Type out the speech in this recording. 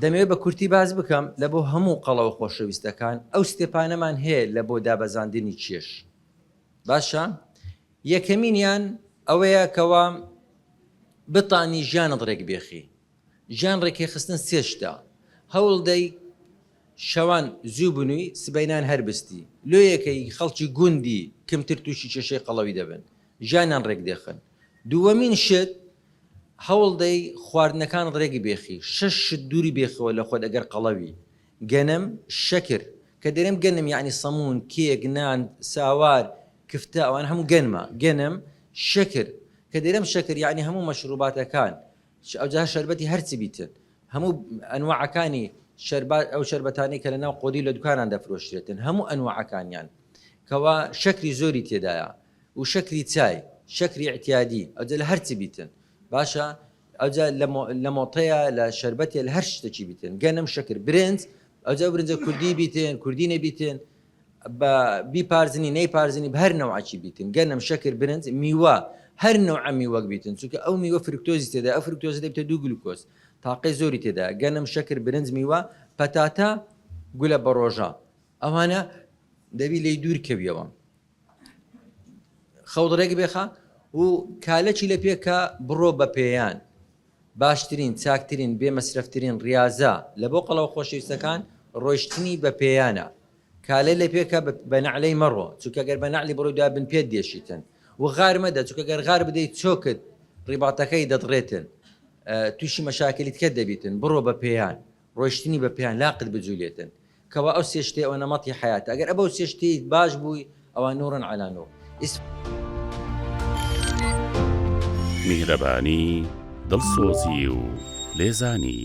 دەمەوێت بە کورتی باس بکەم لە بۆ هەموو قەڵەوە خۆشەویستەکان ئەو ستێپانەمان هەیە لە بۆ دابەزاندنی کێش باشە یەکەمینیان ئەوەیە کەوا بتانی ژیانت ڕێک بێخی ژیان ڕێکێخستن سێ شتە هەوڵدەی شەوان زوو بنووی سبەینان هەربستی لۆیەکەی خەڵکی گوندی کمتر تووشی کێشەی قەڵەوی دەبن ژیانیان ڕێک دێخن دووەمین شت هەوڵدەی خواردنەکان ڕێک بێخی، شەش شت دووری بێخەوە لە خۆت ئەگەر قەڵەوی، گەنم، شەکر، کە دەرێم گەنم یەعنی سەموون، کێک، نان، ساوار، کفتە ئەوانە هەموو گەنمە، گەنم، شەکر، کە دەرێم شەکر یەعنی هەموو مەشڕووباتەکان، ش ئەوجا هەر شەربەتی هەر چ بیتن، هەموو ئەنواعەکانی شەربات ئەو شەربەتانەی کە لە ناو قۆدی و لە دوکانان دەفرۆشرێتن هەموو ئەنواعەکانیان کەوا شەکری زۆری تێدایە و شەکری چای شەکری ئیعتیادی ئەوجا لە هەرچ بیتن باشە ئەوجا لە مۆتەیە لە شەربەتێ لە هەر شتەکی بیتن گەنم شەکر برنج ئەوجا برنجە کوردی بیتن کوردی نەبیتن بە بیپارزنی نەیپارزنی بە هەر نەوعکی بیتن گەنم شەکر برنج میوە هەر نەوعە میوەک بیتن چونکە ئەو میوە فرکتۆزی تێدا ئەو فرکتۆزە دەبێتە دوو گلوکۆز تاقەی زۆری تێدا گەنم شەکر برنج میوە پەتاتە گولە بەڕۆژە ئەوانە دەبی لێی دوور کەویەوە خەوت ڕێک بێخە و کالەکی لە پێکە بڕۆ بە پێیان. باشترین، چاکترین، بێ مەسرەفترین ڕیازە لە بۆ قەڵەوە خۆشەویستەکان ڕۆیشتنی بە پێیانە. کالە لە پێکە بە نەعلەی مەڕۆ چونکە گەر بە نەعلی بڕۆی دوای بن پێت دێشیتن و غار مەدە چونکە گەر غار بدەی چۆکت ڕیباتەکەی دەدڕێتن تووشی مەشاکلیتکە دەبیتن بڕۆ بە پێیان. ڕۆیشتنی بە پێیان لاقت بجولێتن کوا ئەو سێ شتەی ئەوە نەمەتی حەیاتە ئەگەر ئەبەو سێ شتەیت باش بووی ئەوا نورن عەلا نور ئیس. میهرەبانی، دڵسۆزی و لێزانی.